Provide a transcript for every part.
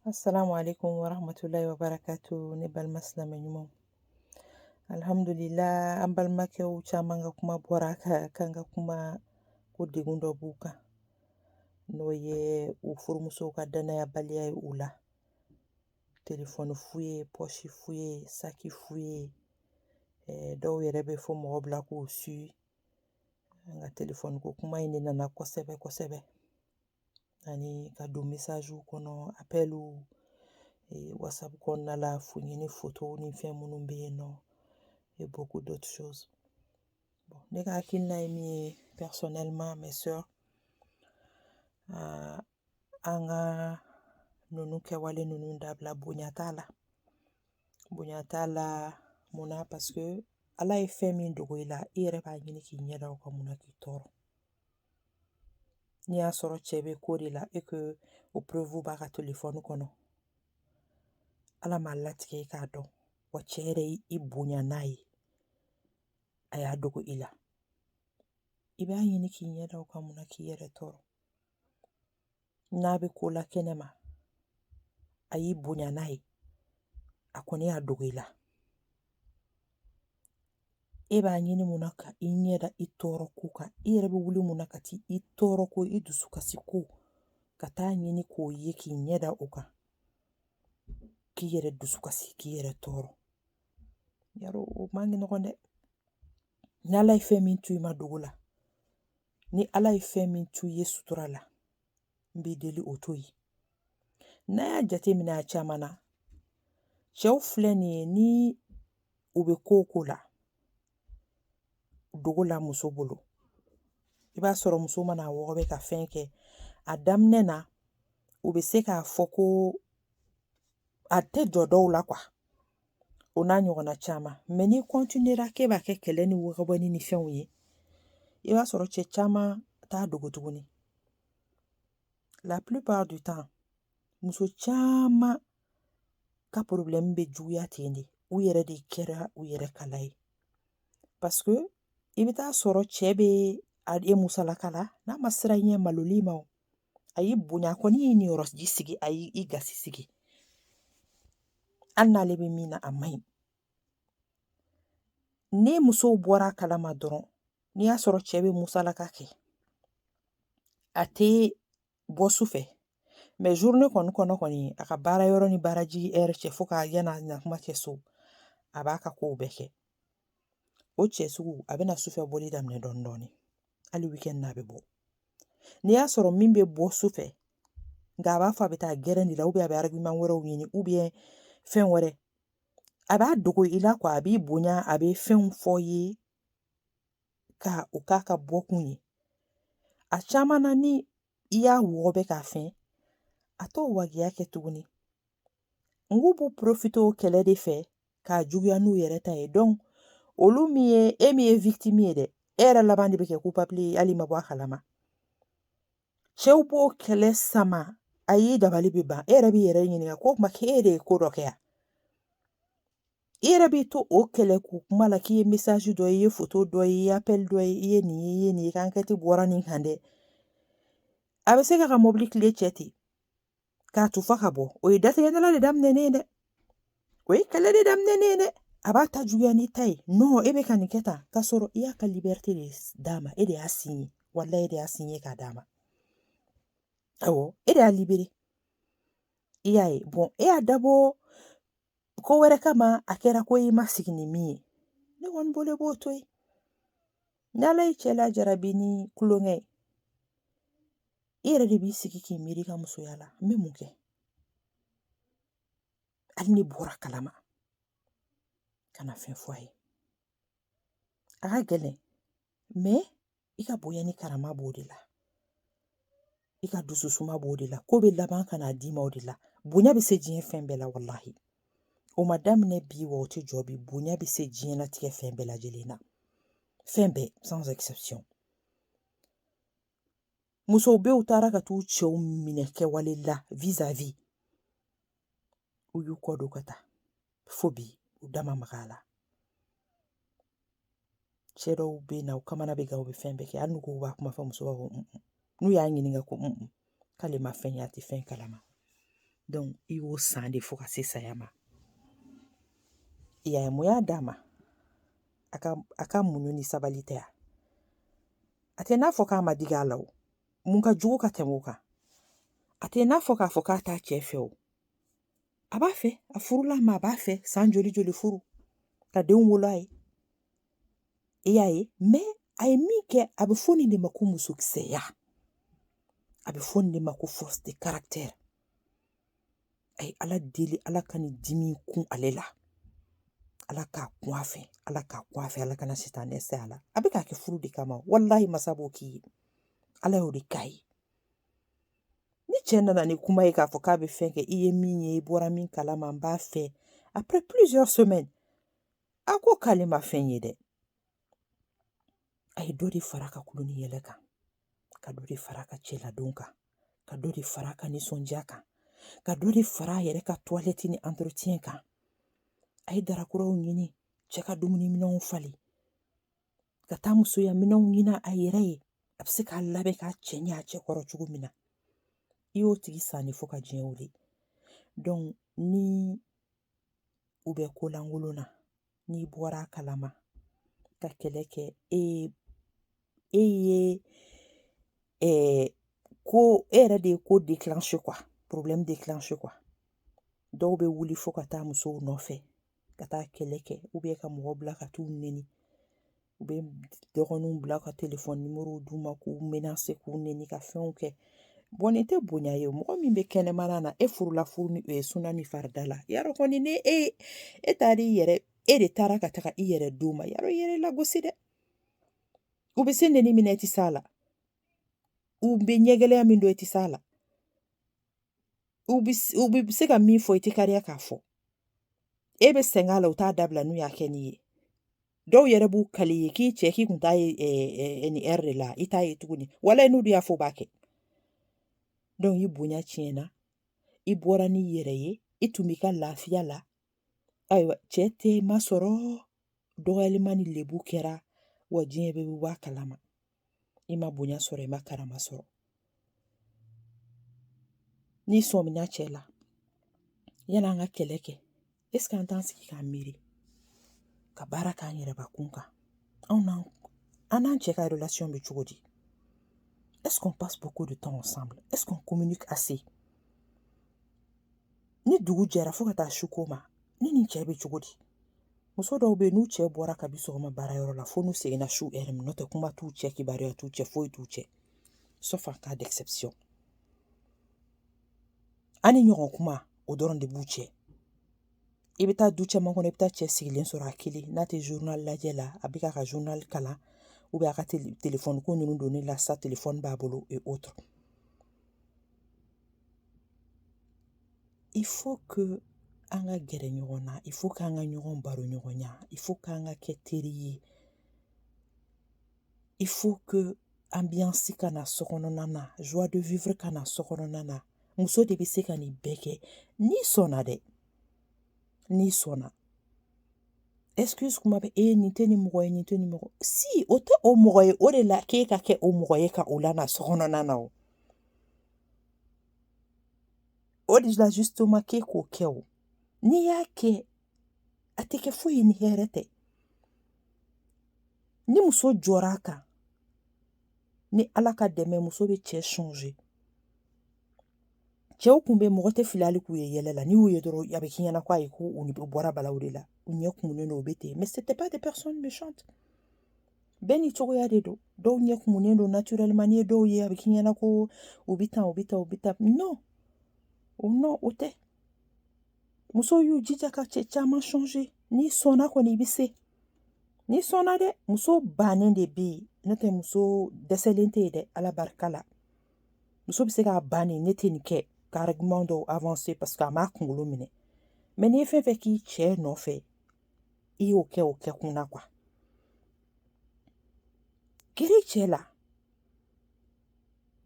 Assalamu alaikum wa rahmatullahi wa barakatu ne balima silamɛ ɲumanw alhamdulillah an balimakɛw caman ka kuma bɔra kan ka kuma ko degun dɔ b'u kan n'o ye u furumusow ka danayabaliya ye u la telefɔni fuye pɔsi fuye saki fuye eh, dɔw yɛrɛ bɛ fɔ mɔgɔ bila k'u suivi an ka telefɔni ko kuma in de nana kosɛbɛ kosɛbɛ ani ka don message kɔnɔ appel wasapu kɔnɔna la fuyeni foto ni fɛn minnu bɛ yen nɔ et beaucoup d'autres choses ne ka hakilina ye min ye personnellement mes sœurs an ka ninnu kɛwale ninnu dabila bonya t'a la bonya t'a la munna paseke ala ye fɛn min dogo i la i yɛrɛ b'a ɲini k'i ɲɛda o kan munna k'i tɔɔrɔ n'i y'a sɔrɔ cɛ bɛ ko de la et que o preuve b'a ka telefɔni kɔnɔ ala m'a latigɛ i k'a dɔn wa cɛ yɛrɛ ye i bonya n'a ye a y'a dogo i la i b'a ɲini k'i ɲɛda o kan mun na k'i yɛrɛ tɔɔrɔ n'a bɛ ko la kɛnɛ ma a y'i bonya n'a ye a kɔni y'a dogo i la e b'a ɲini mun na ka i ɲɛ da i tɔɔrɔ ko kan i yɛrɛ bɛ wuli mun na ka t'i tɔɔrɔ ko i dusu kasi ko ka t'a ɲini k'o ye k'i ɲɛ da o kan k'i yɛrɛ dusu kasi k'i yɛrɛ tɔɔrɔ yarɔ o man nɔgɔn dɛ n'ala ye fɛn min to i ma dogo la ni ala ye fɛn min to i ye sutura la n b'i deli o to yen n'a y'a jateminɛ a caman na cɛw filɛ nin ye ni u bɛ ko o ko la dogo la muso bolo i b'a sɔrɔ muso mana a wɔgɔbɛ ka fɛn kɛ a daminɛ na u bɛ se k'a fɔ ko a tɛ jɔ dɔw la kuwa o n'a ɲɔgɔnna caman mɛ n'i kɔntinera k'e b'a kɛ kɛlɛ ni wɔgɔbɛni ni fɛnw ye i b'a sɔrɔ cɛ caman t'a dogo tuguni la plupart du temps muso caman ka porobilɛmu bɛ juguya ten de u yɛrɛ de kɛra u yɛrɛ kala ye parce que i bɛ t'a sɔrɔ cɛ bɛ e musalaka la n'a ma siran i ɲɛ malol'i ma a y'i bonya kɔni y'i niyɔrɔji sigi a y'i gasi sigi hali n'ale bɛ min na a man ɲi ni musow bɔra a kalama dɔrɔn n'i y'a sɔrɔ cɛ bɛ musalaka kɛ a tɛ bɔ su fɛ mɛ journée kɔnɔ kɔni a ka baara yɔrɔ ni baara jigi ɛri cɛ fo ka yan'a na kuma cɛ so a b'a ka kow bɛɛ kɛ o cɛ sugu a bɛna sufɛ bɔli daminɛ dɔɔnin dɔɔnin hali weekend na a bɛ bɔ n'i y'a sɔrɔ min bɛ bɔ su fɛ nka a b'a fɔ a bɛ taa gɛrɛn de la ou bien a bɛ argument wɛrɛw ɲini ou bien fɛn wɛrɛ a b'a dogo i la quoi a b'i bonya a bɛ fɛnw fɔ i ye ka o k'a ka bɔkun ye a caman na ni i y'a wɔgɔbɛ k'a fɛn a t'o wajibiya kɛ tuguni nk'u b'u porofite o kɛlɛ de fɛ k'a juguya n'u yɛrɛ ta ye donc olu min ye e min ye vitimi ye dɛ e yɛrɛ laban de bɛ kɛ coupable ye hali ma bɔ a kalama cɛw b'o kɛlɛ sama a y'i dabali bɛ ban e yɛrɛ b'i yɛrɛ ɲininka ko kuma k'e de ye ko dɔ kɛ yan i yɛrɛ b'i to o kɛlɛ k'u kuma la k'i ye mesaji dɔ ye i ye foto dɔ ye i ye apɛli dɔ ye i ye nin ye i ye nin ye i ka ankɛti bɔra nin kan dɛ a bɛ se k'a ka mɔbili kile cɛ ten k'a tufa ka bɔ o ye datigɛdala de daminɛnen ye dɛ o ye kɛlɛ de daminɛnen ye dɛ a b'a ta juguya n'i ta ye nɔn e bɛ ka nin kɛ tan k'a sɔrɔ i y'a ka libɛrite de d'a ma e de y'a siɲe walayi e de y'a siɲe k'a d'a ma awɔ e de y'a libere i y'a ye bɔn e y'a dabɔ ko wɛrɛ kama a kɛra ko i ma sigi ni min ye ne kɔni bolo i b'o to yen ni ala y'i cɛ lajarabi ni kulonkɛ ye i yɛrɛ de b'i sigi k'i miiri i ka musoya la n bɛ mun kɛ hali n'i bɔra a kalama kana fɛn fɔ a ye a ka gɛlɛn mɛ i ka bonya ni karama b'o de la i ka dususuma b'o de la ko bɛ laban ka n'a d'i ma o de la bonya bɛ se diɲɛ fɛn bɛɛ la walahi o ma daminɛ bi wa o tɛ jɔ bi bonya bɛ se diɲɛlatigɛ fɛn bɛɛ lajɛlen na fɛn bɛɛ sans exception musow bɛ u taara ka t'u cɛw minɛ kɛwale la vis-à-vis u y'u kɔ don ka taa fo bi u da ma maga a la cɛ dɔw bɛ na u kamana bɛ gan u bɛ fɛn bɛɛ kɛ hali n'u ko u b'a kuma fɔ muso b'a fɔ n'u y'a ɲininka ko k'ale ma fɛn ye a tɛ fɛn kalama i y'o san de fo ka se saya ma i y'a ye mun y'a d'a ma a ka a ka muɲu ni sabali tɛ ya a tɛ n'a fɔ k'a ma digi a la o mun ka jugu ka tɛmɛ o kan a tɛ n'a fɔ k'a fɔ k'a t'a cɛ fɛ o a b'a fɛ a furula a ma a b'a fɛ san joli joli furu ka denw wolo a ye i y'a ye mɛ a ye min kɛ a bɛ fɔ nin de ma ko musokisɛya a bɛ fɔ nin de ma ko force de caractère a ye ala deli ala ka nin dimi kun ale la ala k'a kun a fɛ ala k'a kun a fɛ ala kana sitanɛ se a la a bɛ k'a kɛ furu de kama walahi masa b'o k'i ye ala y'o de k'a ye ni cɛ nana ni kuma ye k'a fɔ k'a bɛ fɛn kɛ i ye min ye i bɔra min kalama n b'a fɛ après plusieurs semaines a ko k'ale ma fɛn ye dɛ a ye dɔ de fara ka kulo ni yɛlɛ kan ka dɔ de fara ka cɛladon kan ka dɔ de fara ka nisɔndiya kan ka dɔ de fara a yɛrɛ ka toilette ni entretien kan a ye dara kuraw ɲini cɛ ka dumuniminɛnw falen ka taa musoya minɛnw ɲini a yɛrɛ ye a bɛ se k'a labɛn k'a cɛɲɛ a cɛ kɔrɔ cogo min na i y'o tigi san de fo ka diɲɛ wuli donc ni u bɛ ko lankolon na n'i bɔra a kalama ka kɛlɛ kɛ e e ye ɛɛ ko e yɛrɛ de ye ko déclenché quoi problème déclenché quoi dɔw bɛ wuli fo ka taa musow nɔfɛ ka taa kɛlɛ kɛ ou bien ka mɔgɔ bila ka t'u neni u bɛ dɔgɔninw bila ka telefɔni numéro d'u ma k'u menacer k'u neni ka fɛnw kɛ bon nin tɛ bonya ye mɔgɔ min bɛ kɛnɛmana na e furula furu ni ye suna ni farida la yarɔ kɔni ni e e taara i yɛrɛ e de taara ka taga i yɛrɛ d'u ma yarɔ i yɛrɛ lagosi dɛ u bɛ se neni min na i tɛ s'a la u bɛ ɲɛgɛlɛya min dɔn i tɛ s'a la u bɛ s- u bɛ se ka min fɔ i tɛ kariya k'a fɔ e bɛ sɛgɛn a la u t'a dabila n'u y'a kɛ n'i ye dɔw yɛrɛ b'u kali i ye k'i cɛ k'i kun t'a ye ɛ, ɛ, ɛ, nin heure de la i t'a ye tuguni walayi n'u de y'a fɔ u b'a kɛ donc i bonya tiɲɛna i bɔra n'i yɛrɛ ye i tun b'i ka lafiya la ayiwa cɛ tɛ masɔrɔ dɔgɔyalima ni lebu kɛra wa diɲɛ bɛɛ bɛ bɔ a kalama i ma bonya sɔrɔ i ma karama sɔrɔ n'i sɔmina cɛ la yanni an ka kɛlɛ kɛ est-ce que an t'an sigi k'an miiri ka baara k'an yɛrɛbakun kan anw n'an an n'an cɛ ka relation bɛ cogo di est-ce qu'on passe beaucoup de temps ensemble est-ce qu'on communique assez ni dugu jɛra fo ka taa su ko ma ne ni cɛ bɛ cogo di muso dɔw bɛ yen n'u cɛ bɔra kabi sɔgɔma baarayɔrɔ la fo n'u seginna su heure min n'o tɛ kuma t'u cɛ kibaruya t'u cɛ foyi t'u cɛ sauf en cas d'exception ani ɲɔgɔn kuma o dɔrɔn de b'u cɛ i bɛ taa du caman kɔnɔ i bɛ taa cɛ sigilen sɔrɔ a kelen n'a tɛ journal lajɛ la a bɛ k'a ka journal kalan ou bien a ka telefɔni ko ninnu donni la sa telefɔni b'a bolo et autres Il faut que an ka gɛrɛ ɲɔgɔn na il faut k'an ka ɲɔgɔn baroɲɔgɔnya il faut k'an ka kɛ teri ye il faut que ambiance ka na so kɔnɔna na joie de vivre ka na so kɔnɔna na muso de bɛ se ka nin bɛɛ kɛ n'i sɔnna dɛ n'i sɔnna excuse kuma bɛ e nin tɛ nin mɔgɔ ye nin tɛ nin mɔgɔ si o tɛ o mɔgɔ ye o de la k'e ka kɛ o mɔgɔ ye ka o lana so kɔnɔna na o O de la justement k'e k'o kɛ o n'i y'a kɛ a tɛ kɛ foyi ye ni hɛrɛ tɛ ni muso jɔra a kan ni ala ka dɛmɛ muso bɛ cɛ changer cɛw kun bɛ mɔgɔ tɛ fili hali k'u ye yɛlɛ la n'i y'u ye dɔrɔn a bɛ k'i ɲɛna ko ayi ko u bɔra balawu de la u ɲɛ kumunen don u bɛ ten mais c'était pas des personnes méchantes bɛɛ ni cogoya de don dɔw ɲɛ kumunen don naturellement n'i ye dɔw ye a bɛ k'i ɲɛna ko u bɛ tan u bɛ tan u bɛ tan non o non o tɛ musow y'u jija ka cɛ caman changer n'i sɔnna kɔni i bɛ se n'i sɔnna dɛ muso bannen de bɛ yen n'o tɛ muso dɛsɛlen tɛ yen dɛ ala barika la muso bɛ se k'a ban nin ne tɛ nin kɛ ka argument dɔw avancer parce que a m'a kunkolo minɛ mais n'i ye fɛn fɛn k'i cɛ nɔfɛ i y'o kɛ o kɛ kun na quoi gɛrɛ cɛ la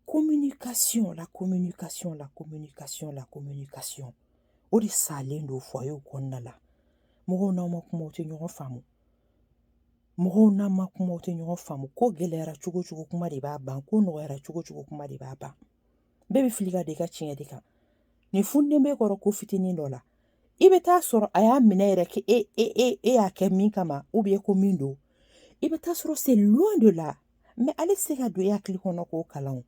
communication la communication la communication la communication o de salen don foyer kɔnɔna la mɔgɔw n'aw ma kuma aw tɛ ɲɔgɔn faamu mɔgɔw n'aw ma kuma aw tɛ ɲɔgɔn faamu ko gɛlɛyara cogo cogo kuma de b'a ban ko nɔgɔyara cogo cogo kuma de b'a ban bɛɛ bɛ fili ka da i ka tiɲɛ de kan nin funden bɛ kɔrɔ ko fitinin dɔ la i bɛ taa sɔrɔ a y'a minɛ yɛrɛ kɛ e e e e y'a kɛ min kama u bɛ ko min don i bɛ taa sɔrɔ c'est loin de là mais ale tɛ se ka don e hakili kɔnɔ k'o kalan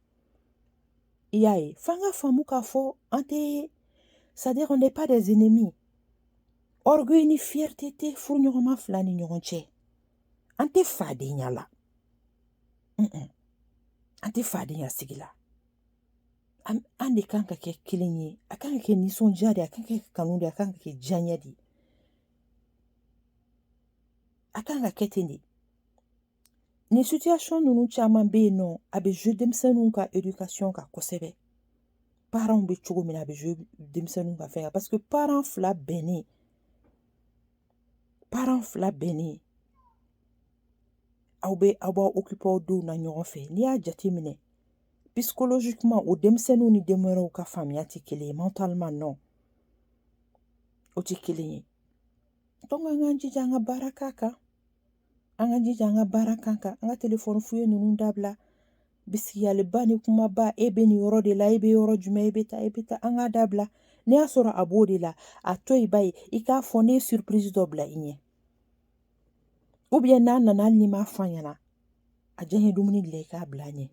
i y'a ye f'an k'a faamu k'a fɔ an tɛ c'est-à-dire qu'on n'est pas des ennemis orgueil ni fierté tɛ furuɲɔgɔnma fila ni ɲɔgɔn cɛ an tɛ fadenya la an tɛ fadenya sigi la an de kan ka kɛ kelen ye a kan ka kɛ nisɔndiya de a kan ka kɛ kanu de a kan ka kɛ diyaɲɛ de a kan ka kɛ ten de ni situation ninnu caman bɛ yen nɔ a bɛ jouer denmisɛnninw ka éducation kan kosɛbɛ parents bɛ cogo min na a bɛ jouer denmisɛnninw ka fɛn kan parce que parents fila bɛnnen parents fila bɛnnen aw bɛ aw b'aw occuper aw denw na ɲɔgɔn fɛ n'i y'a jate minɛ psychologiquement o denmisɛnninw ni den wɛrɛw ka faamuya tɛ kelen ye mentalement non o tɛ kelen ye an k'an jija an ka baara k'a kan an k'an jija an ka baara k'a kan an ka telefɔni fouillé ninnu dabila bisigiyaliba ni kumaba e bɛ nin yɔrɔ de la e bɛ yɔrɔ jumɛn e bɛ taa e bɛ taa an k'a dabila n'i y'a sɔrɔ a b'o de la a to yen ba ye i k'a fɔ ne ye surprise dɔ bila i ɲɛ ou bien n'a nana hali n'i m'a fɔ a ɲɛna a diyanye dumuni dilan i k'a bila a ɲɛ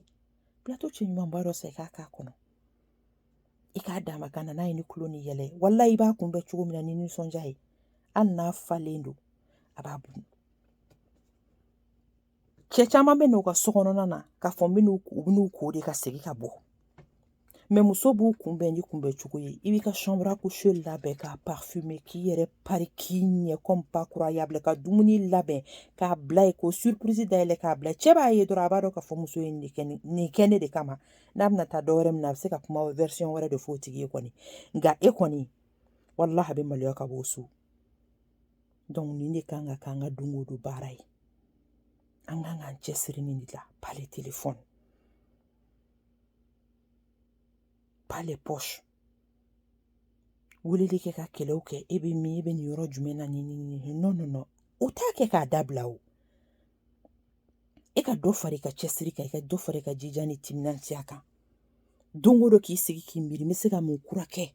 plateau cɛɲumanba dɔ san i k'a k'a kɔnɔ i k'a d'a ma ka na n'a ye ni tulon ni yɛlɛ walahi i b'a kunbɛn cogo min na ni nisɔndiya ye hali n'a falen don a b'a bun cɛ caman bɛ n'u ka so kɔnɔna na k'a fɔ n bɛn'u u bɛn'u ko de ka segin ka bɔ mais muso b'u kunbɛn ni kunbɛn cogo ye i b'i ka chambre à coucher labɛn k'a parfumer k'i yɛrɛ pari k'i ɲɛ comme pas croyable ka dumuni labɛn k'a bila yen ko surprise dayɛlɛ k'a bila cɛ b'a ye dɔrɔn a b'a dɔn k'a fɔ muso ye nin kɛ nin kɛ ne de kama n'a bɛna taa dɔ wɛrɛ min na a bɛ se ka kuma version wɛrɛ de fɔ o tigi ye kɔni nka e kɔni walahi a bɛ maloya ka bɔ so donc nin de kan ka k'an ka don o don baara ye an kan k'an cɛsiri nin de la pas les téléphones pas les poches weleli kɛ ka kɛlɛw kɛ e bɛ min e bɛ nin yɔrɔ jumɛn na nin nin nin non non non o t'a kɛ k'a dabila o e ka dɔ fara i ka cɛsiri kan i ka dɔ fara i ka jija ni timinandiya kan don o don k'i sigi k'i miiri n bɛ se ka mun kura kɛ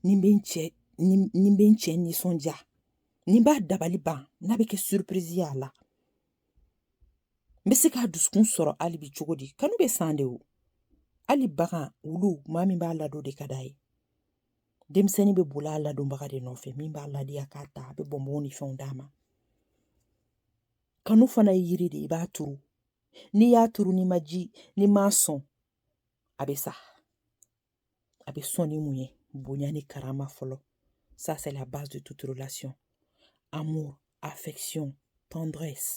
ni n bɛ n cɛ ni n bɛ n cɛ nisɔndiya ni n b'a dabali ban n'a bɛ kɛ surprise y'a la n bɛ se k'a dusukun sɔrɔ hali bi cogo di kanu bɛ san de o hali bagan wulu maa min b'a ladon de ka d'a ye denmisɛnnin bɛ boli a ladonbaga de nɔfɛ min b'a ladiya k'a ta a bɛ bɔnbɔn ni fɛnw d'a ma kanu fana ye yiri de i b'a turu n'i y'a turu n'i ma ji n'i m'a sɔn a bɛ sa a bɛ sɔn ni mun ye bonya ni karama fɔlɔ ça c'est la base de toute relation amour affection tendresse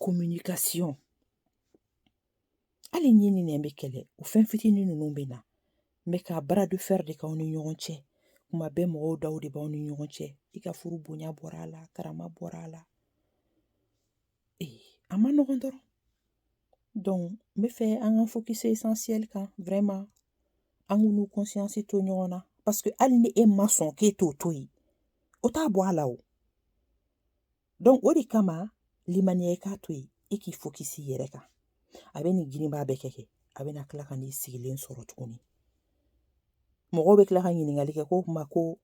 communication hali ɲin ni nɛn bɛ kɛlɛ o fɛn fitinin ninnu bɛ na mais ka bras de fer de k'aw ni ɲɔgɔn cɛ kuma bɛɛ mɔgɔw daw de b'aw ni ɲɔgɔn cɛ i ka furu bonya bɔra a la karama bɔra a la ee a ma nɔgɔn dɔrɔn donc n bɛ fɛ an ka focus essentiel kan vraiment an k'u n'u conscience to ɲɔgɔn na parce que hali ni e ma sɔn k'e t'o to yen o t'a bɔ a la o donc o de kama limaniya i k'a to yen e k'i focus i yɛrɛ kan a bɛ nin girinba bɛɛ kɛ kɛ a bɛna tila ka n'i sigilen sɔrɔ tuguni mɔgɔw bɛ tila ka ɲininkali kɛ ko o tuma ko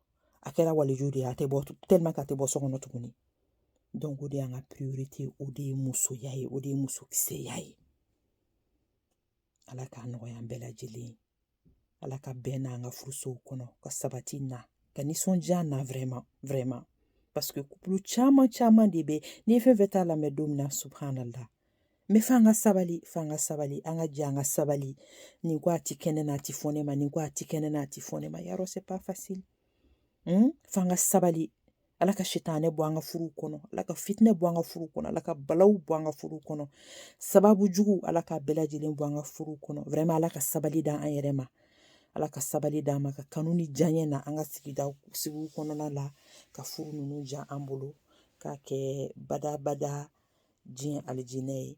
a kɛra waliju de ye a tɛ bɔ tellement que a tɛ bɔ so kɔnɔ tuguni Donc o de y'an ka priorité o de ye musoya ye o de ye musokisɛya ye ala k'a nɔgɔya an bɛɛ lajɛlen ye ala ka bɛn n'an ka furusow kɔnɔ ka sabati na ka nisɔndiya na vraiment vraiment parce que couple caman caman de bɛ n'i ye fɛn fɛn ta lamɛn don min na subhanallah mais f'an ka sabali f'an ka sabali an ka jɛ an ka sabali nin ko a ti kɛnɛ na a ti fɔ ne ma nin ko a ti kɛnɛ na a ti fɔ ne ma yarɔ c'est pas facile hmm? f'an ka sabali ala ka sitanɛ bɔ an ka furu kɔnɔ ala ka fitinɛ bɔ an ka furu kɔnɔ ala ka balaw bɔ an ka furu kɔnɔ sababu jugu ala k'a bɛɛ lajɛlen bɔ an ka furu kɔnɔ vraiment ala ka sabali d'an yɛrɛ ma ala ka sabali d'an ma ka kanu ni diyaɲɛ na an ka sigiw kɔnɔna la ka furu ninnu diya an bolo k'a kɛ badabada diɲɛ alijinɛ ye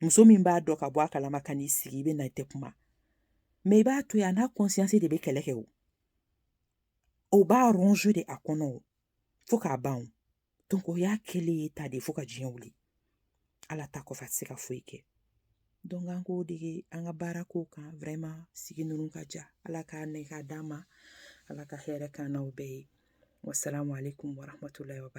muso min b'a dɔn ka bɔ a kalama ka n'i sigi i bɛ na i tɛ kuma mais i b'a to yen a n'a conscience de bɛ kɛlɛ kɛ o o b'a ronger de a kɔnɔ o fo k'a ban o donc o y'a kɛlen ye ta de fo ka diɲɛ wuli ala ta kɔfɛ a tɛ se ka foyi kɛ donc an k'o dege an ka baara k'o kan vraiment sigi ninnu ka diya ala k'a nɛ k'a d'an ma ala ka hɛrɛ k'an n'aw bɛɛ ye wasalamu aleykum warahmatulahi wabarakatu